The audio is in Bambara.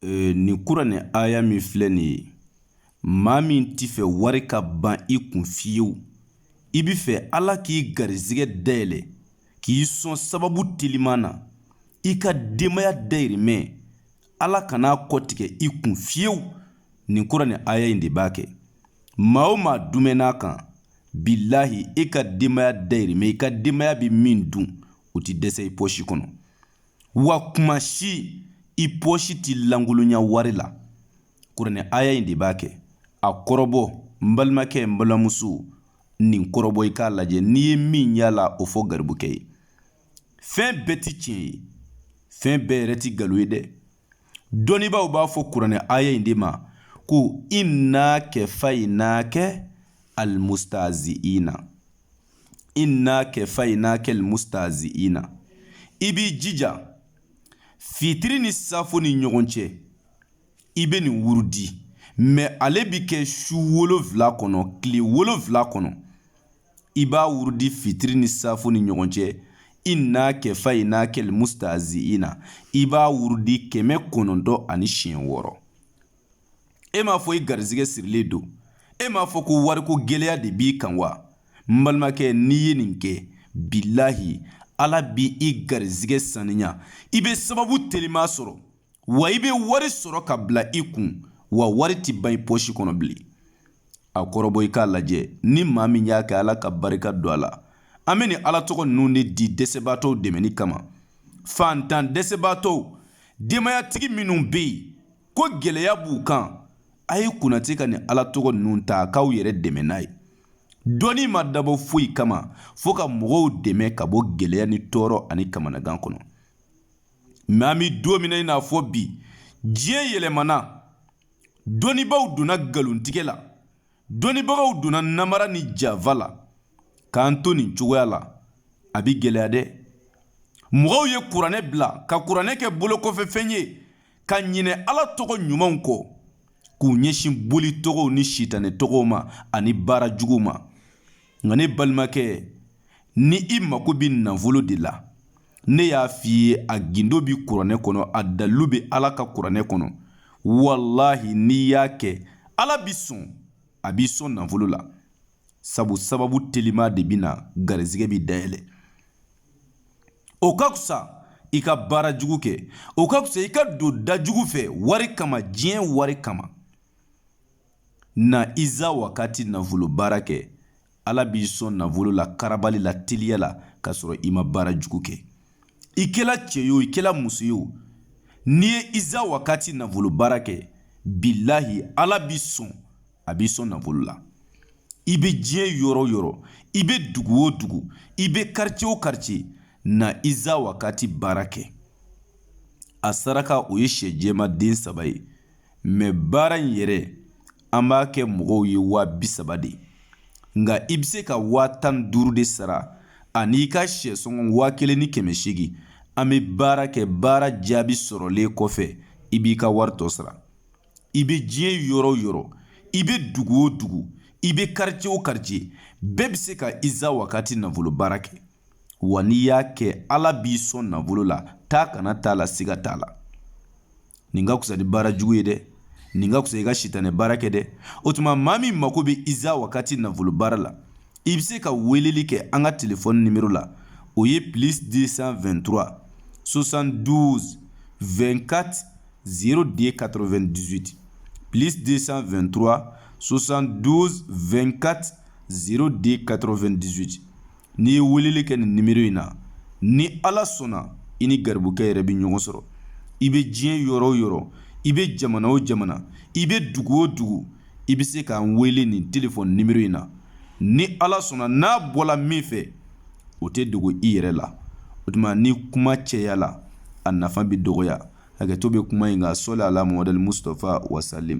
ee, nin kuranɛ aya min filɛ nin ye maa min t'a fɛ wari ka ban i kun fiyewu i b'a fɛ ala k'i garizigɛ dayɛlɛ k'i sɔn sababu teliman na i ka denbaya dayirimɛ ala kan'a kɔtigɛ i kun fiyewu nin kuranɛ aya in de b'a kɛ maa o maa dumɛn'a kan bilahi e ka denbaya dayirimɛ i ka denbaya bɛ min dun o ti dɛsɛ i pɔsi kɔnɔ wa kuma si i pɔsi ti lankolonya wari la kuranɛ aya in de b'a kɛ a kɔrɔbɔ n balimakɛ n balimamuso nin kɔrɔbɔ i k'a lajɛ n'i ye min y'a la o fɔ garibukɛ ye fɛn bɛɛ ti tiɲɛ ye fɛn bɛɛ yɛrɛ ti galo ye dɛ dɔnnibaaw b'a fɔ kuranɛ aya in de ma ko inna kɛfayinakɛ almustaziina inna kɛfayinakɛ almustaziina i b'i jija fitiri ni safo ni ɲɔgɔn cɛ i bɛ nin wurudi mɛ ale bi kɛ su wolonfila kɔnɔ tile wolonfila kɔnɔ i b'a wurudi fitiri ni safo ni ɲɔgɔn cɛ inna kɛfayinakɛ almustaziina i b'a wurudi kɛmɛ kɔnɔntɔn ani siɲɛ wɔɔrɔ e m'a fɔ i garizigɛ sirilen don e m'a fɔ ko wariko gɛlɛya de b'i kan wa n balimakɛ n'i ye nin kɛ bilahi ala bi i garizigɛ saniya i bɛ sababu telima sɔrɔ wa i bɛ wari sɔrɔ ka bila i kun wa wari tɛ ban i pɔsi kɔnɔ bilen a kɔrɔbɔ i k'a lajɛ ni maa min y'a kɛ ala ka barika don a la an bɛ nin ala tɔgɔ ninnu de di dɛsɛbaatɔw dɛmɛni kama fantan dɛsɛbaatɔw denbayatigi minnu bɛ yen ko gɛlɛya b'u kan a ye kunnati ka nin ala tɔgɔ ninnu ta k'aw yɛrɛ dɛmɛ n'a ye dɔnni ma dabɔ foyi kama fo ka mɔgɔw dɛmɛ ka bɔ gɛlɛya ni tɔɔrɔ ani kamanagan kɔnɔ mɛ an bɛ don min na i n'a fɔ bi diɲɛ yɛlɛmana dɔnnibaaw donna nkalontigɛ la dɔnnibagaw donna namara ni janfa la k'an to nin cogoya la a bɛ gɛlɛya dɛ mɔgɔw ye kuranɛ bila ka kuranɛ kɛ bolokɔfɛfɛn ye ka ɲinɛ ala tɔgɔ ɲumanw kɔ k'u ɲɛsin boli tɔgɔw ni sitanɛ tɔgɔw ma ani baara jugu ma nka ne balimakɛ ni i mako bɛ nafolo de la ne y'a f'i ye a gindo bɛ kuranɛ kɔnɔ a dalilu bɛ ala ka kuranɛ kɔnɔ walahi n'i y'a kɛ ala b'i sɔn a b'i sɔn nafolo la sabu sababu telima de bɛ na garizigɛ bi dayɛlɛ o ka fisa i ka baara jugu kɛ o ka fisa i ka don da jugu fɛ wari kama diɲɛ wari kama Na iza wakati nafolo baara kɛ, Ala b'i sɔn nafolo la karabali la teliya la k'a sɔrɔ i ma baara jugu kɛ. I kɛla cɛ ye o, i kɛla muso ye o, n'i ye iza wakati nafolo baara kɛ, bilahi Ala b'i sɔn, a b'i sɔn nafolo la. I bɛ diɲɛ yɔrɔ o yɔrɔ, i bɛ dugu o dugu, i bɛ quartier o quartier, na iza wakati baara kɛ. A saraka o ye syɛ jɛman den saba ye. mais baara in yɛrɛ an b'a kɛ mɔgɔw ye waa bi saba de nka i bɛ se ka waa tan ni duuru de sara ani i ka syɛsɔngɔ waa kelen ni kɛmɛ seegin an bɛ baara kɛ baara jaabi sɔrɔlen kɔfɛ i b'i ka wari tɔ sara i bɛ diɲɛ yɔrɔ o yɔrɔ i bɛ dugu o dugu i bɛ quartier o quartier bɛɛ bɛ se ka iza wakati nafolo baara kɛ Wa n'i y'a kɛ ala b'i sɔn nafolo la taa kana t'a la siga t'a la nin ka fisa ni baara jugu ye dɛ nin ka fisa i ka sitan ni baara kɛ dɛ o tuma maa min mako bɛ iza wagati nafolo baara la i bɛ se ka weleli kɛ an ka tilefɔ nimo la o ye plis de sanfɛtura sosan duuru2kati zi de ka2 dusute plis de sanfɛtura sosan duuru2kati zi de ka2 dusu n'i ye weleli kɛ nin nimero in na ni ala sɔnna i ni garibukɛ yɛrɛ bɛ ɲɔgɔn sɔrɔ i bɛ diɲɛ yɔrɔ o yɔrɔ i bɛ jamana o jamana i bɛ dugu o dugu i bɛ se k'an wele nin telefɔni nimero in na ni ala sɔnna n'a bɔla min fɛ o tɛ dogo i yɛrɛ la o tuma ni kuma cayala a nafa bɛ dɔgɔya hakɛto bɛ kuma in kan sɔli ala Muhamad Mustafa wasalim